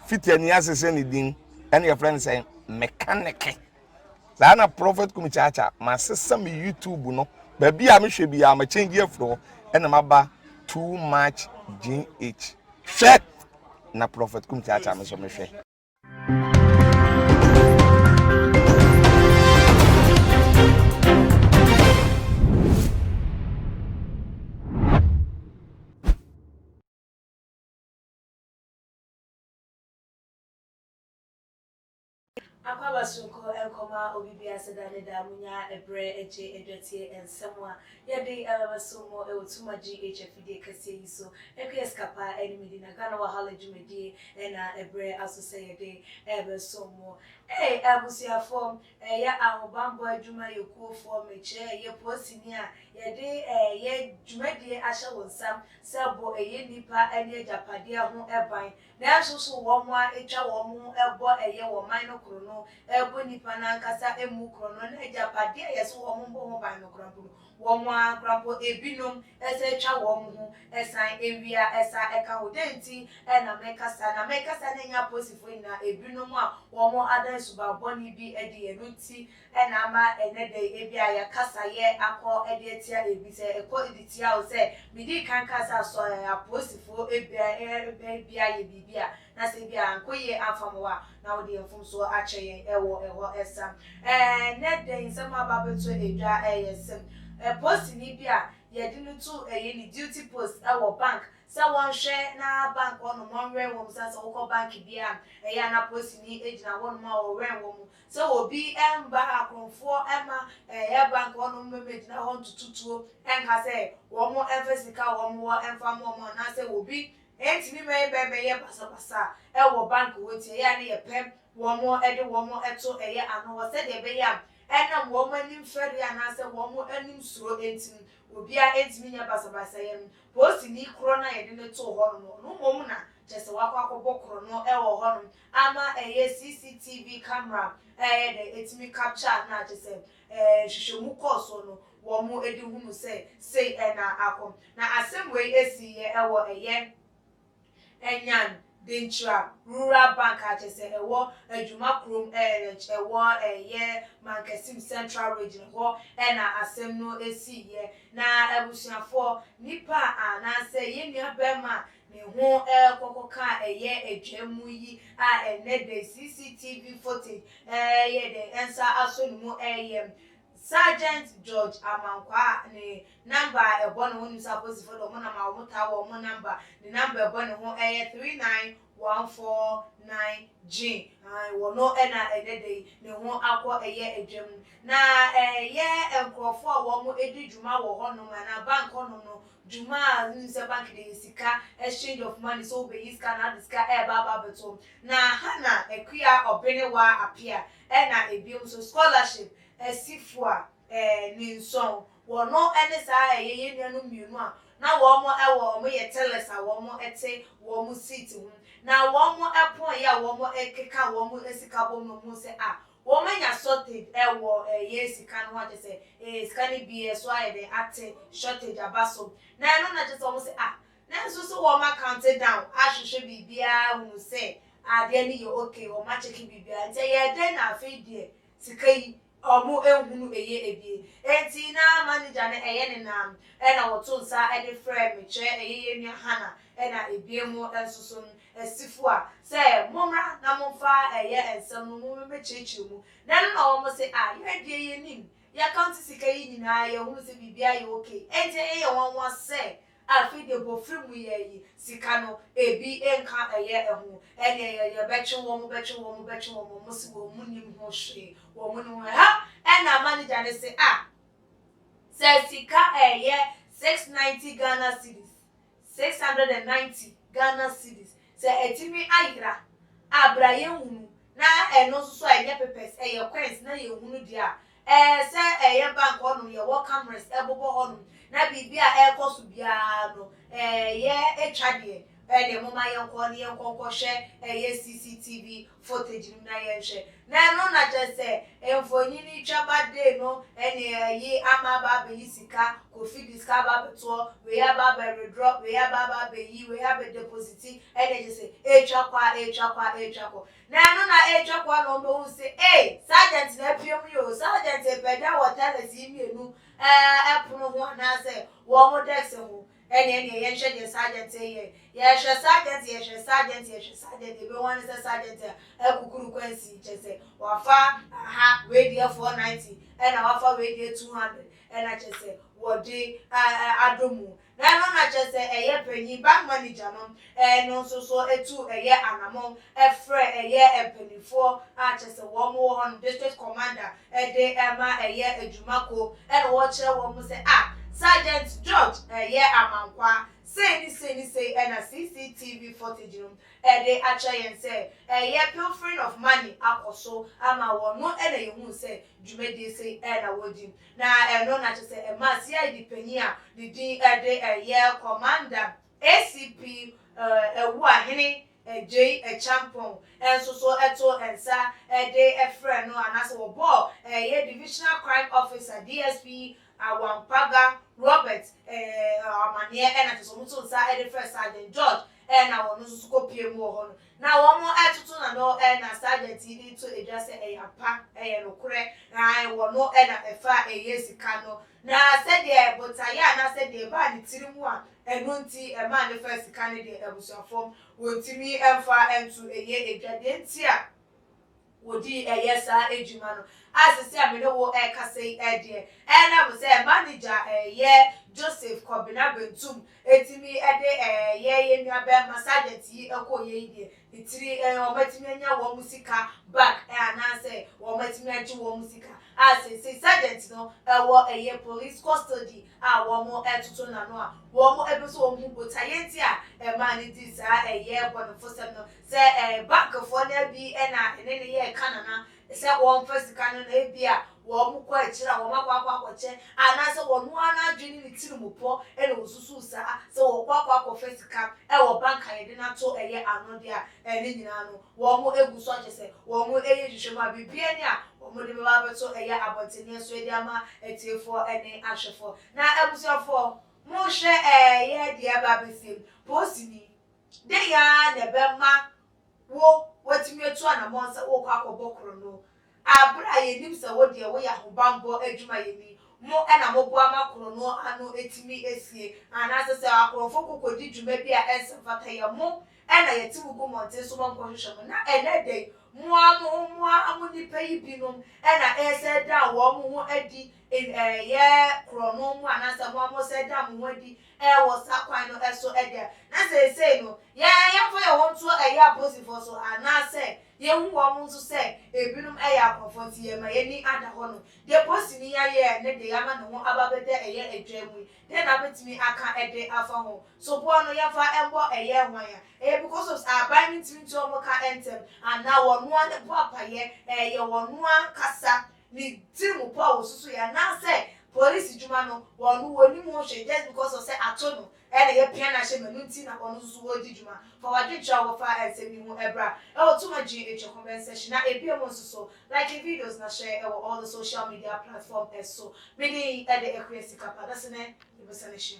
Fitia ni ase sɛ ne din ɛna yɛfrɛ no sɛ mekaneke. Saa na Prophet Kumi Kyaakyaa masesa me YouTube no baabi a mehwɛ biara ma change afiri hɔ ɛna maba too much GH. Hwɛ na Prophet Kumi Kyaakyaa me nso mehwɛ. Akwaaba soronko nkɔma obibi aseda ne da munya ɛbrɛ gye adwatie nsɛm a yɛde bɛba so mo wɔ Tuma GH afidie kɛseɛ yi so ɛkuyɛ sika pa ne me di na Ghana Wahala dwumadie na ɛbrɛ aso sɛ yɛde bɛsom mo Ei abusuafoɔ Ɛyɛ ahobammɔ adwumayɛkuofoɔ mekyerɛɛ yɛ poosini a yɛde yɛ dwumadie ahyɛ wo nsam sɛ bɔ ɛyɛ nnipa ne agyapadeɛ ho ban nanso so wɔn a ɛtwa wɔn ho bɔ ɛyɛ wɔ man no korɔno bɔ nnipa no ankasa mu korɔno ne agyapadeɛ a yɛse wɔn mmɔ ho ban no koraa mpo no Wɔn ara koraa mpo, ebinom ɛsɛ etwa wɔn ho san ewia ɛsa ɛka ho. Dɛn nti na meka saa? Na meka saa na enya apolisifoɔ nyinaa, ebinom a wɔn ada nsuban bɔne bi adi, ɛno nti na ama ɛnɛ da yi ebia yɛakasa yɛ akɔ de atia ebi. Sɛ ɛkɔ de tia wo sɛ, medii kan kaa sɛ asɔ apolisifoɔ bɛn bia yɛ biribi a, na sɛ ebia ankɔ yie amfa mo a, na wode yɛ mfomsoɔ akyɛ yɛn wɔ ɛhɔ sam. Ɛnnɛ da yi nsɛm a aba abɛto dwa yɛ sɛ, polisini bi a yɛde no to ɛyɛ ne duty post wɔ bank sɛ wɔnhwɛ na bank hɔnom wɔnwɛn wɔn mu sane sɛ wokɔ bank biara a, ɛyɛ a na polisini gyina hɔnom a ɔwɛn wɔn mu sɛ obi mma akorɔmfoɔ mma ɛyɛ bank hɔnom mmɛgyina hɔ ntoto tuo nka sɛ wɔn mfa sika a wɔn wɔ mfa mma wɔn anaasɛ obi Enti ne mmarima bɛyɛ basabasa wɔ bank hɔ nti ɛyɛ a na yɛpɛ wɔn de wɔn to yɛn ano hɔ sɛdeɛ ɛbɛyɛ a ɛnam wɔn anim fɛreɛ anaasɛ wɔn anim suro nti no obiara ntumi nyɛ basabasayɛ no. Polisini korɔ no a yɛde no too hɔ no no ɔno mmom na kyerɛ sɛ wakɔ akɔbɔ korɔno wɔ hɔnom ama ɛyɛ CCTV camera a ɛyɛ dɛn ɛtumi capture no a kyerɛ sɛ Nhwehwɛmu kɔɔ so no, wɔde hunu sɛ sei na akɔ. Na asɛm wei siiɛ wɔ ɛyɛ Anyan, Denkyira Rural Bank a kyerɛ sɛ ɛwɔ Adwuma kurom ɛrɛch ɛwɔ ɛyɛ Mankasim Central Region ɛhɔ na asɛm no siiɛ. Na abusuafoɔ, nnipa a anaasɛ yɛn nua barima a ne ho rekɔ kɔka a ɛyɛ adwam mu yi a ɛnnɛ dɛ CCTV footage reyɛ dɛn nsa asɔ ne mu reyɛ Sergeant George Amankwaa ne number a ɛbɔ ne ho nim sɛ apolisifoɔ de wɔn nam a wɔtaa wɔ wɔn number ne number ɛbɔ ne ho yɛ three nine one four nine gyin ae wɔ no na ɛnnɛ dɛ yi ne ho akɔ yɛ adwam na ɛyɛ nkorɔfoɔ a wɔn di dwuma wɔ hɔ nom anaa bank hɔ nom no dwuma a no nim sɛ bank de sika, exchange of money, sɛ wobeyi sika anaa ade sika reba aba abɛto hɔ. Na ha na akua ɔbenewa apea, ɛna ebiom nso scholarship asi fua eh, ninsɔn, wɔ no ɛne saa ɛyɛ yɛn nuanom mmienu a na wɔn mo ɛwɔ wɔn yɛ tellers a wɔn mo ɛte wɔn mo seat ho, na wɔn mo ɛpɔn yɛ a wɔn mo ɛkeka wɔn mo sika bom no wɔn hu sɛ ah, Wɔn anya shortage ɛwɔ ɛyɛ sika no ho akyɛ sɛ ee sika no bi ɛso ayɛ dɛn ate shortage aba so na ɛno na kyɛ sɛ wɔn se ah nanso so wɔn account down ahwehwɛ biribiara ahunu sɛ adeɛ no yɛ okay wɔn akyɛke biribiara nti ɛyɛ dɛn na afei deɛ sika yi wɔn nhunu eye ebie enti na manager no ɛyɛ ne nam ɛna wɔto nsa ɛde frɛɛ me kyerɛ ɛyɛ yɛn nua Hannah ɛna ebien mu nso so no Asifo a, sɛ, Mommra na momfa ɛyɛ nsɛm no mu mmɛkyerɛkyerɛ mu. Na ɛno na wɔn se, Ah, yɛn deɛ yɛnim, yɛakaonte sika yi nyinaa, yɛhunu sɛ biribiara yɛ ok, enti ɛyɛ yɛn nwanwa sɛ afei deɛ bofiri mu yɛayi sika no, ebi nka ɛyɛ ho, ɛnneɛ yɛ, yɛbɛtwe wɔn, bɛtwe wɔn, bɛtwe wɔn, wɔn se wɔn nnim ho hwee, wɔn nnim ho hwee. Hɛ! Ɛnna manager no se, Ah, sɛ sika ɛyɛ six ninety Ghana cedis, six hundred and ninety Ghana cedis sɛ atumi ayera a bra yɛnhunu na ɛno nso so a ɛnyɛ pepɛs ɛyɛ coins na yɛnhunu deɛ a ɛɛ sɛ ɛyɛ bank hɔnom yɛwɔ cameras ɛbobɔ hɔnom na biribi a ɛrekɔ so biara no ɛɛ yɛ ɛtwa deɛ ɛdeɛ moma yɛnkɔ ne yɛnkɔ nkɔhwɛ ɛyɛ CCTV Footage no mu na yɛnhwɛ, na ɛno na kyerɛ sɛ mfonini twaba day no ne ɛyi ama aba abɛyi sika, Kofi de sika aba abɛtoɔ, wei aba abɛ withdraw, wei aba aba abɛyi, wei abɛ deposit, ɛna kyerɛ sɛ ɛretwa kɔ a, ɛretwa kɔ a, ɛretwa kɔ. Na ɛno na ɛretwa kɔ a na wɔbɛhu sɛ ei, sergeant na apue mu yi o, sergeant repagya wɔ tellers yi mmienu ɛɛ pono ho anaasɛ wɔn decks ho, Ɛnna ɛnneɛ yɛnhwɛ deɛ Sargent reyɛ. Yɛhwɛ Sargent, yɛhwɛ Sargent, yɛhwɛ Sargent, deɛ yɛbɛhu ara ne sɛ Sargent akukuru kwansi, kyerɛ sɛ, wafa aha wei deɛ four ninety, ɛnna wafa wei deɛ two hundred, ɛnna kyerɛ sɛ, wɔde ɛ ɛ adɔ mu. Na ɛno na kyerɛ sɛ, ɛyɛ panyin, bank manager no, Ɛno nso so tu ɛyɛ anamɔn frɛ ɛyɛ mpaninfoɔ a kyerɛ sɛ wɔn wɔ hɔ no, district commander, de ma ɛyɛ adwuma kuo na wɔkyerɛ wɔn mu sɛ ah Sergeant George ɛyɛ Amankwaa sei ne sei ne sei na CCTV footage no de akyerɛ yɛn sɛ ɛyɛ pilfering of money akɔ so ama wɔn no na yɛhuu sɛ dwumadie sei na wɔdi na ɛno na kyerɛ sɛ ɛmaa CID panin a ne din de ɛyɛ Commander ACP Awuah Hene Agyei Acheampong nso so too nsa de frɛɛ no anaasɛ wɔbɔɔ ɛyɛ Divisional Crime Officer, DSP, Awampaga Robert amanneɛ na kyerɛ sɛ wɔn too nsa de frɛɛ Sergeant George na ɔno nso so kɔpuee mu wɔ hɔ no. Na wɔtoto n'ano na Sergeant yi de to dwa sɛ ɛyɛ ampa, ɛyɛ nokorɛ, na wɔ no na ɛfa ɛyɛ sika no Na sɛdeɛ botaeɛ a na sɛdeɛ ɛbaa ne tiri mu a ɛno nti ɛmaa no faa sika no deɛ, abusuafoɔ, wɔntumi mfa nto ɛyɛ adwa. Deɛ nti a wɔdii ɛyɛ saa adwuma no, a sese a me ne wo rekasa yi deɛ, ɛnam sɛ manager a ɛyɛ Joseph Kɔbena Bentum Etumi de ɛɛ yɛ yɛ nua bɛɛma sergeant yi ɛkɔ yɛ yi deɛ ne tiri ɛɛ wɔn atumi anya wɔn mo sika back ɛɛ anaa sɛ wɔn atumi agye wɔn mo sika a seesei sergeant no ɛwɔ ɛyɛ police custody a wɔn ɛtoto n'ano a wɔn ɛpɛ sɛ wɔn hu botaeɛ nti a ɛmaa no dii saa ɛyɛ bɔnefosɛm no sɛ ɛɛ bank foɔ no bi ɛna ɛne no yɛɛ ka nana sɛ wɔmfa sika no na ebia wɔkɔ akyiri a wɔakɔ akɔ akɔkyɛ anaasɛ ɔno ara n'adwene ne ne tirim pɔ na osusuw saa, sɛ wɔkɔ akɔ akɔfa sika wɔ bank a yɛde no ato ɛyɛ anode a, ɛno nyinaa no wɔagu so akyerɛ sɛ wɔreyɛ nhwehwɛmu a biribiara nni a wɔde bɛba abɛto ɛyɛ abɔntenneɛ so de ama atiefoɔ ne ahwɛfoɔ. Na abusuafoɔ, monhwɛ ɛɛ, yɛn deɛ ɛreba abɛsiem, poosini, dɛn ara na ɛbɛma wo woatumi atu anammɔn sɛ worekɔ akɔbɔ korɔno a bere a yenim sɛ wo deɛ woyɛ ahobammɔ adwumayɛni, mo na moboa ma korɔno ano tumi sie anaasɛ sɛ akorɔmfo kɔ kɔdi dwuma bi a ɛnsɛ mfata yɛ mo na yɛte mo gu mmɔnten so ma mokɔhwehwɛ mo na ɛnnɛ da yi mo ara mo ho mo ara mo nnipa yi binom na ɛresɛ dan wɔn ho adi ɛyɛ korɔno mu anaasɛ mo ara moresɛ dan mo ho adi wɔ saa kwan no so deɛ, na seesei no, yɛn yɛmfa yɛn ho nto ɛyɛ apolisifoɔ so, anaasɛ yɛhu wɔn nso sɛ ebinom yɛ akorɔmfoɔ nti yɛma yɛn ani ada hɔ no, deɛ polisini ayɛ ne deɛ ama ne ho aba abɛda ɛyɛ adwaa mu yi, dɛn na wobɛtumi aka de afa ho? Soboɔ no, yɛmfa mmɔ ɛyɛ hwan a ɛyɛ because of sɛ aban no ntumi ntua wɔn ka ntɛm, anaa wɔn ara na ɛbɔ apaeɛ, ɛyɛ wɔn ara ankasa ne tsir mu po a wosusu yɛ anaasɛ police dwuma no ɔno onnyim ho hwee just because ɔsɛ ato no na yɛpia no ahyɛ mu eno ntsi na ɔno so so oridzi dwuma. Fa w'adwenkyerɛ a wɔfaa nsɛm yi ho bra wɔ Tuma Gye Ntwa comment section na ebia mu so so like videos na share wɔ all the social media platform so. Me din de Akua Sikapa, dase ne yɛbɛsan ahyia.